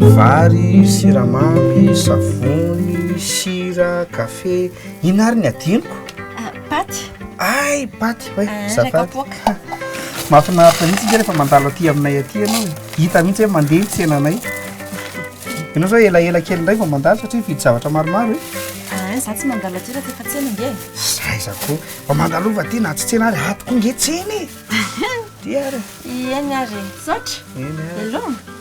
Vary, siramamy, savony, sira, kafe, inona ary ny adinoko? Paty. Hay, paty hoe, zafady. Ilay kapoaka. Mahafinaritra mihitsy isika rehefa mandalo aty aminay aty ianao e. Hita mihitsy hoe mandeha ny tsenanay. Ianao izao elaela kely indray vao mandalo satria mividy zavatra maromaro e. Ah, izaho tsy mandalo aty raha tsy efa tsena ange e. Za iza koa, vao mandalova aty na tsy tsena ary, ato koa ange tsena e. Dia ary. Eny ary e. Misaotra. Eny ary. Veloma.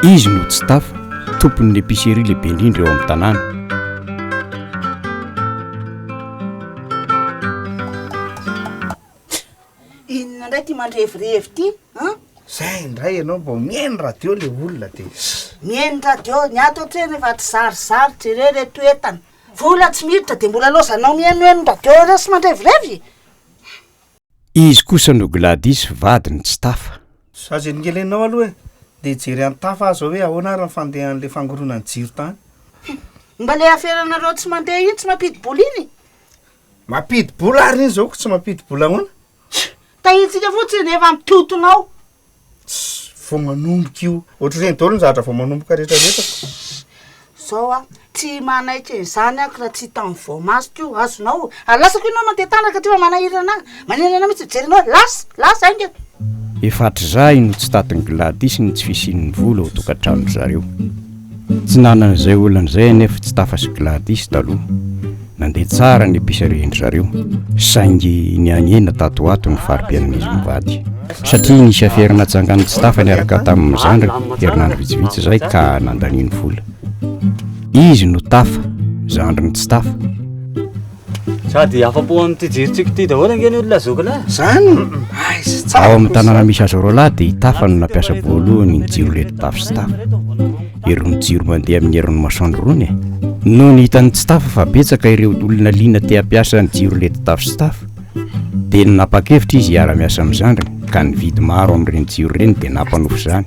Izy no tsy tafa, tompon'ny epicerie lehibe indrindra eo amin'ny tanàna. Inona indray ity mandrevirevy ity an? Zay indray ianao mba mihaino radio le olona de ss. Mihaino radio, ny ato an-trano efa tsy zarizary jereo ireto entana. Vola tsy miditra dia mbola laozanao mihenoheno radio ireo sy mandrevirevy? Izy kosa no Gladys vadiny tsy tafa. Za ze nogelenao aloha e! Ndeha jery an'i Tafa aza hoe ahoana ary ny fandehan'ilay fangoronan'ny jiro tany. Mba le aferanareo tsy mandeha iny tsy mampidi-bola iny. Mampidi bola ary iny zao ko tsy mampidi bola ahoana? Tsia! Tahintsika fotsiny rehefa ampitontona ao. Tss! Vao manomboka io. Ohatr'ireny daholo ny zavatra vao manomboka rehetra rehetra ko. Tss! Zao a, tsy manaiky an'izany aho ko raha tsy hitan'ny voamasoko io, azonao? Ary lasako ianao mandeha tanaka aty fa manahiry anahy. Maninona ianao mitsy mijery anao lasa lasa ainga. Efa hatrizay no tsy tatin'i Gladys ny tsy fisian'ny vola ao tokantranon-dry zareo. Tsy nanana izay olana izay anefa Tsitafa sy Gladys taloha. Nandeha tsara ny mpiserian-dry zareo, saingy nihanihena tato ho ato ny fari-piainan'izy mivady. Satria nisy afera natsangan'i Tsitafa niaraka tamin'ny zandriny herinandro vitsivitsy izay ka nandaniany vola. Izy no Tafa, zandrin'i Tsitafa. Sady afa-po amin'ity jerin-tsiko ity daholo ange ny olona zoky lahy. Zany? Aiza tsara. Ao amin'ny tanàna misy azy roa lahy dia i Tafa no nampiasa voalohany ny jiro reto Tafa sy Tafa. Irony jiro mandeha amin'ny herin'ny masoandro irony e. Noho ny hitan'ny tsy Tafa fa betsaka ireo olona liana te hampiasa ny jiro reto Tafa sy Tafa dia nanapa-kevitra izy hiara-miasa amin'ny zandriny ka nividy maro amin'ireny jiro ireny dia nampanofy izany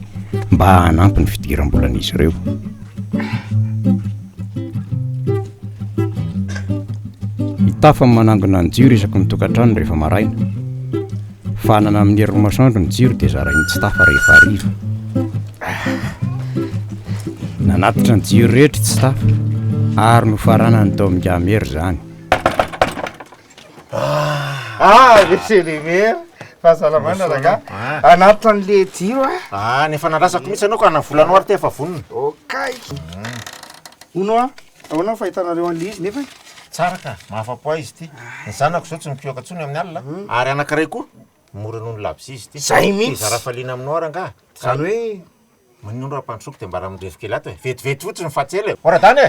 mba hanampy ny fidiram-bolan'izy ireo. Hitafa ny manangona ny jiro isaky ny tokantrano rehefa maraina. Fanana amin'ny herin'ny masoandro ny jiro dia zarain'ny tsitafa rehefa hariva. Nanatitra ny jiro rehetra i tsitafa ary nofaranany tao amin'ny kamery izany. Ah, Monsieur le maire, fahasalamana rangahy. Hanatitra an'le jiro aho. Ah, ny efa nandrasako mihitsy ianao ka na volanao ary ity efa vonona. Okay. Hono hoa, ahoana ny fahitanareo an'ilay izy nefany? Tsara ka, mahafa-po ahy izy ity. Ny zanako izao tsy mipioka intsony amin'ny alina, ary anankiray koa mora noho ny labozy izy ity. Izay mihitsy. Hizara hafaliana aminao aho rangahy. Izany hoe? Maninona raha ampandrosoako dia mba raha mirevy kely ato e. Vetivety fotsiny fa tsy ela e. Oradany e!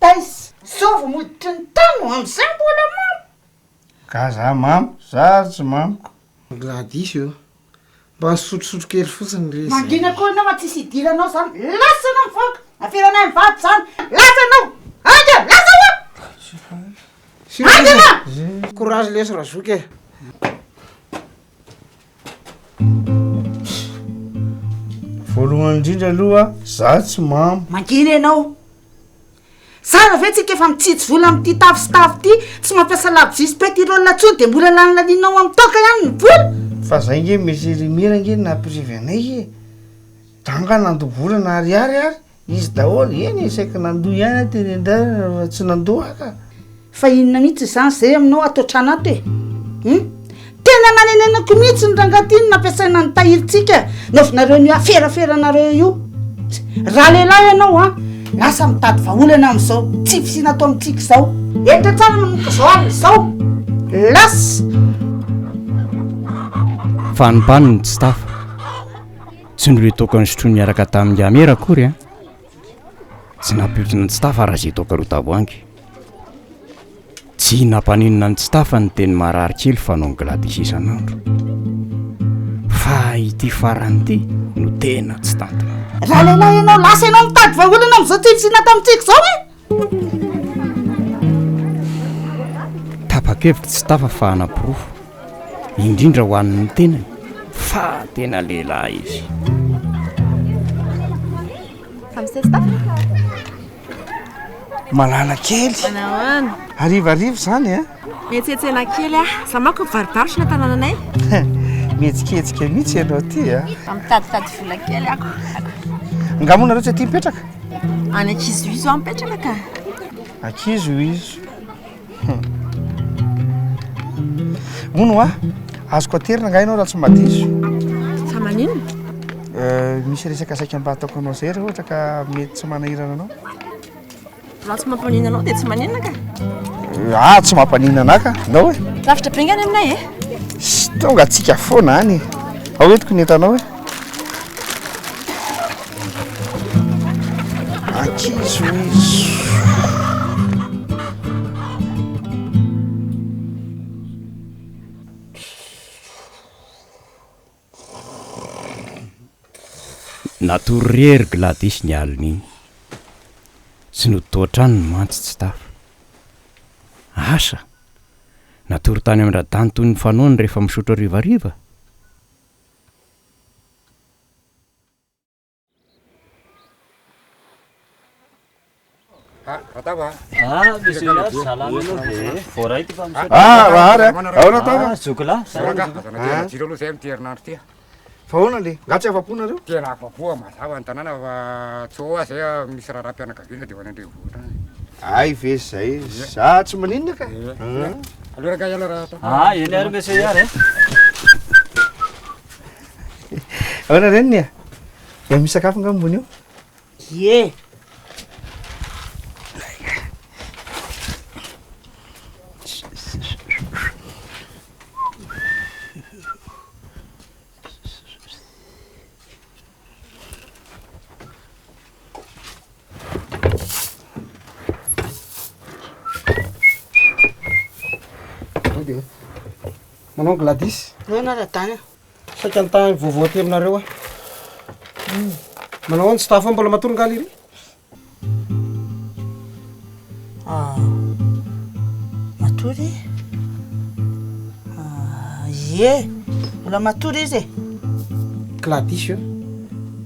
Taiza zao vao moditry ny tany no amzay mbola mamo? Gaga mamo, za ary tsy mamiko. Raha diso eo. Mba nisotrosotro kely fotsiny re izay. Mangina koa enao an tsisy idiranao zany lasa enao mivoaka aferanay mivady zany lasa enao hainga lasa oa hainga enao. Courage lesy razoky e. Voalohany indrindra aloha za tsy mamo. Mangina enao. Tsara ve tsika efa mitsitsy vola amin'ity tavy sy tavy ity, tsy mampiasa labozia sy petirole intsony dia mbola lanilanianao amin'ny toaka ihany ny vola? Fa zay nge Monsieur le Maire nge no nampirevy anay e! Danga nandoa vola na ariary ary izy daholo, eny e saiky nandoa ihany aho teny an-dalana fa tsy nandoa aho ka! Fa inona mihitsy izany izay aminao atao tranato e? Hum? Tena nanenenako mihitsy ny rangahy ity no nampiasaina ny tahirintsika naovinareo an'io aferaferanareo io. Raha lehilahy ianao an, lasa mitady vahaolana amin'izao tsy fisiana ato amintsika izao. Hetra tsara manomboka izao alina izao. Lasa! Fa anbany ny tsy tafa. Tsy niretoako an'i Sotroa niaraka tamin'i Yamera akory an! Tsy nampiotrona ny Tsitafa raha izay toaka roa tavoahangy. Tsy nampaninona ny Tsitafa ny teny marary kely fanaon'i Gladys isan'andro. Fa ity farany ity no tena tsy tantin'olona. Raha lehilahy ianao, lasa ianao mitady vahaolana amin'izao tsy nisy inona tamintsika izao e! Tapa-kevitra tsy tafa fa hanaporofo, indrindra ho an'ny tenany, fa tena lehilahy izy. Malala kely. Harivariva izany an! Miantsentsena kely aho. Izaho manko mivarobarotra ny an-tanananay. Mihetsiketsika mihitsy ianao ity a! Mitaditady vola kely aho. Angaha moa nareo tsy aty mipetraka? Any ankizohizo aho mipetraka ka. Ankizohizo. Moa no ahy, azoko aterina angaha ianao raha tsy mba diso? Fa maninona? Misy resaka saika mba hataoko anao izay raha ohatra ka mety tsy manahirana anao. Raha tsy mampaninona anao dia tsy maninona ka. Ah, tsy mampaninona anah ka. Nao e. Lavitra be ngany aminay e. Tonga atsika foana any. Ao entiko ny entanao e. Ankizo izy. Natory re ry Gladys ny alin'iny. Tsy notoatraniny mantsy tsy tafa. Asa! Natory tany amin-dRadany toy ny fanaony rehefa misotro harivariva? Ah, Ratava. Ah, misy ihany zalana aloha dia voaray ty fa misy. Ah, Rahary a. Ao Ratava. Ah, Zokola. Saranga. Azana tena jiro aloha zay amin'ity herinandro ty. Fa ahoana le? Nga tsy afa-po nareo? Tena afa-po mazava ny tanàna fa tsy ho azy zay misy raharaham-pianakaviana dia ho any an-drenivohitra any. Ay ve zay? Za tsy maninona ka. Aleo ranga iala raha. Ah, eny ary mesy iary. Ahoana reniny a? Dia misy sakafo nga ambony eo? Ie! Manao gladis. Ahoana ra-dana? Saika nitahy ny vaovao aty aminareo aho. Hmm. Manao ahoana tsy tafa mbola matory ngaly iry? Ah, matory? Ah, ie, mbola matory izy e. Kila diso eo.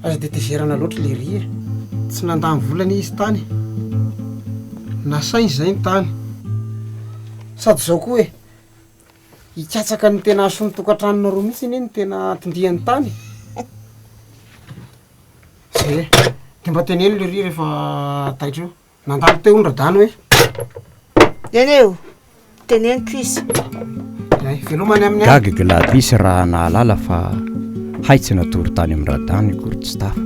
Aza dia tezerana loatra le ry e. Tsy nandany volana izy tany. Nasainy izay ny tany. Sady izao koa e. Hikatsaka ny tena hasoan'ny tokantranonareo mihitsy anie ny tena tondihany tany e! de mba teneno lery rehefa taitra eo, nandalo teo ny radany hoe. Neneo, teneniko izy. Hay, velomany amin'ny alina. Gaga Gladys raha nahalala fa hay tsy natory tany amin'ny radany akory tsy tafa.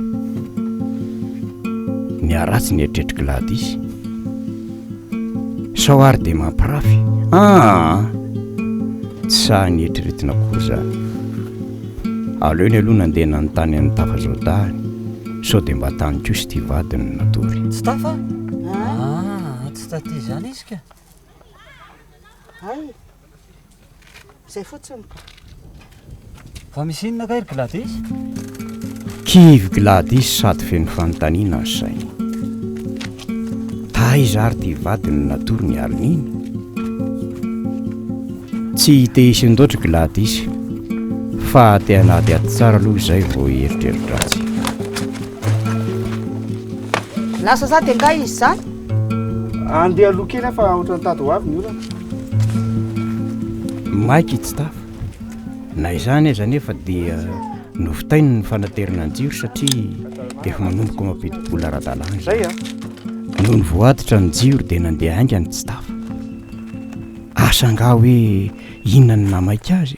Niharatsy ny eritreritr'i Gladys. Sao ary dia mampirafy? Aa! Tsy sahy nieritreretina akory izany. Aleony aloha nandeha nanontany an'i Tafa izao dahany sao dia mba tany kosa ity vadiny no natory. Tsy Tafa? Aa! Tsy taty izany izy ka! Hay! Zay fotsiny ka. Fa misy inona kay ry Gladys? Kivy Gladys sady feno fanontaniana ny sainy. Taiza ary ity vadiny natory ny alin'iny? Tsy te hisy ndoatra Gladys fa te hanady ady tsara aloha izay vao hieritreritra azy. Lasa za dia ngahy izy izany? Andeha aloha kely aho fa ohatran'ny tady ho avy ny orana. Maika i Tsitafa. Na izany aza anefa dia novitainy ny fanaterana ny jiro satria efa manomboka mampidi-bola ara-dalàna izany. Nony voaditra ny jiro dia nandeha haingana i Tsitafa. Asa angaha hoe inona no nahamaika azy?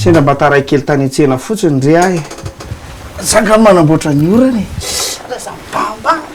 Sendra mba taray kely tany an-tsena fotsiny re ahy. Zah angamba manamboatra ny orana e.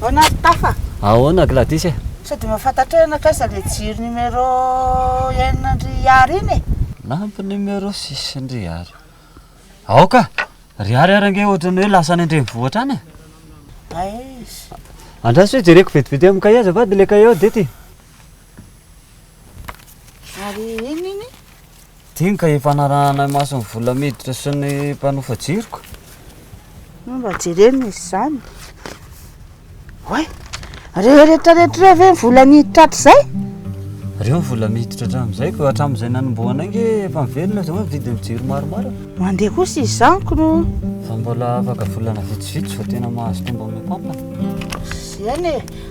Ahoana ry Tafa? Ahoana Gladys e? Sao dia mahafantatrao ianakay izay ilay jiro numéro enin'ndry Ary iny e? Nampy numéro six-ndry Ary. Aoka, ry Ary ary ange ohatran'ny hoe lasa any an-drenivohitra any e? Aiza? Andraso hoe jereko vetivety amin'ny cahier azafady ilay cahier ao dia ity. Ary inona iny? Diny ka efa narahana imason'ny vola miditra sy ny mpanofa jiro ka. No mba jereny izy izany. Oay, rehetra rehetra ireo ve ny vola niditra hatrizay? Ireo ny vola miditra hatramin'izay ka hatramin'izay nanombohana ange efa mivelona izao ny vidin'ny jiro maromaro. Mandeha kosa izany ko no. Fa mbola afaka volana vitsivitsy vao tena mahazo tombony ny pampana. Izany e.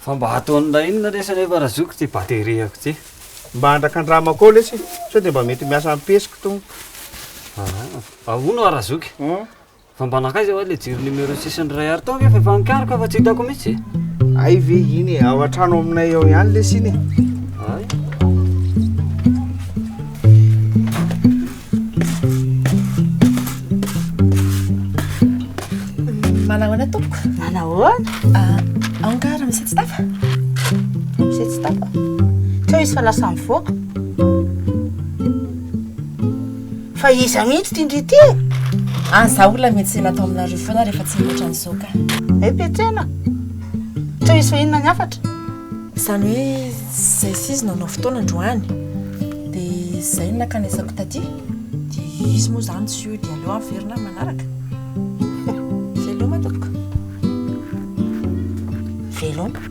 Fa mba ataony raha inona lesy anefa raha zoky ty bateriako ty. Mba andrakandramako ao lesy sao dia mba mety miasa am-pesiko tompoko. Ah, ahoana hoa raha zoky? Fa mba nankaiza hoa ilay jiro numéro sisiny iray ary tao anefa efa nikaroka fa tsy hitako mihitsy e. Hay ve iny e, ao an-trano aminay ao ihany lesy iny e. Hay. Manahoana tompoko? Manahoana? Ah, aoka ary misy tsy tafa? Misy tsy tafa? Teo izy fa lasa mivoaka. Fa iza mihitsy ity ndry ity e? Any za olona miantsena ato aminareo foana rehefa tsy mihoatra an'izao ka. Hay petsena. Teo izy fa inona ny hafatra? Izany hoe izay sy izy nanao fotoana androany, dia izay no nankanesako taty, dia izy moa izany tsy hody aleo averina ny manaraka. Veloma tompoko. Veloma.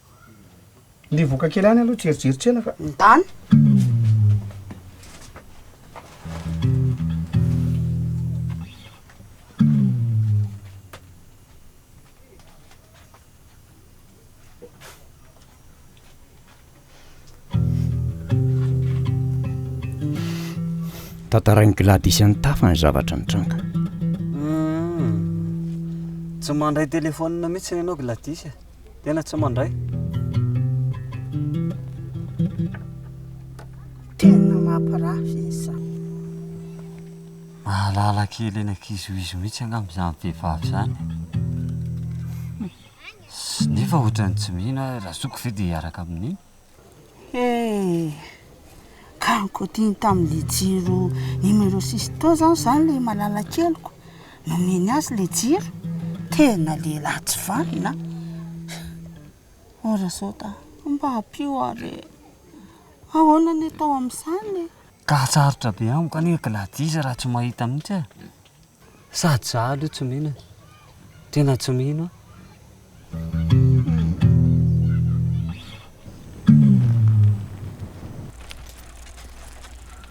Ndeha voaka kely any aloha tsy herijery tsena fa. Mitany. Tantarain'i Gladys an'i Tafa ny zavatra nitranga. Hmm. Tsy mandray téléphone mihitsy ianao Gladys e. Tena tsy mandray. Tena mampirafy izy. Mahalala kely eny ankizoizo mihitsy angamba izany vehivavy izany. Nefa ohatran'ny tsy mino aho, Razoko ve dia hiaraka amin'iny? Karokaotina tamin'ilay jiro numéro six tao izany izany ilay malala keliko, nomeny azy ilay jiro, tena lehilahy tsy vanona an, ary izao da mba ampio aho re, ahoana ny atao amin'izany e. Ka sarotra be amiko anie Gladys raha tsy mahita mihintsy aho. Sady za aloha tsy mino e. Tena tsy mino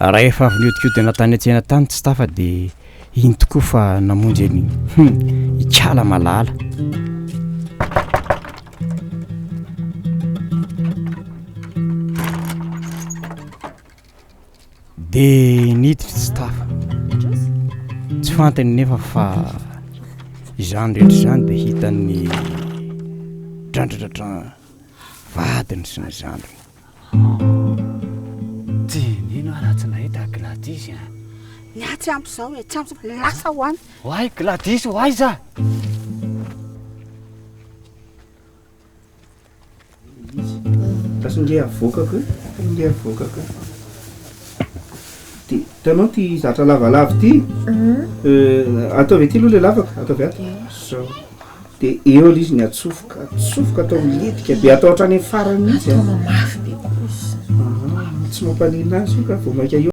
an. Rahefa avy niodikodina tany an-tsena tany tsy tafa dia iny tokoa fa namonjy an'i hum ikala malala. Dia niditra tsy tafa. Tsy fantany nefa fa izany rehetra izany dia hitan'ny drandradradrany vadiny sy ny zandriny. Tsy nino aho raha tsy nahita Gladys a. Ny ahy tsy ampy izao e, tsy ampy izao, lasa ho any. Ho ahy Gladys ho aiza? Basy nge avoakako e, basy nge avoakako e. Ty, hitanao ty zatra lavalava ty, euh, ataovy aty aloha le lavaka, ataovy ato, zao. Dia eo aloha izy ny atsofoka, atsofoka atao miletika be, atao hatrany amin'ny farany mihitsy. Ataovy mafy be kosa. Ah, tsy mampanina azy io ka, vao mainka eo.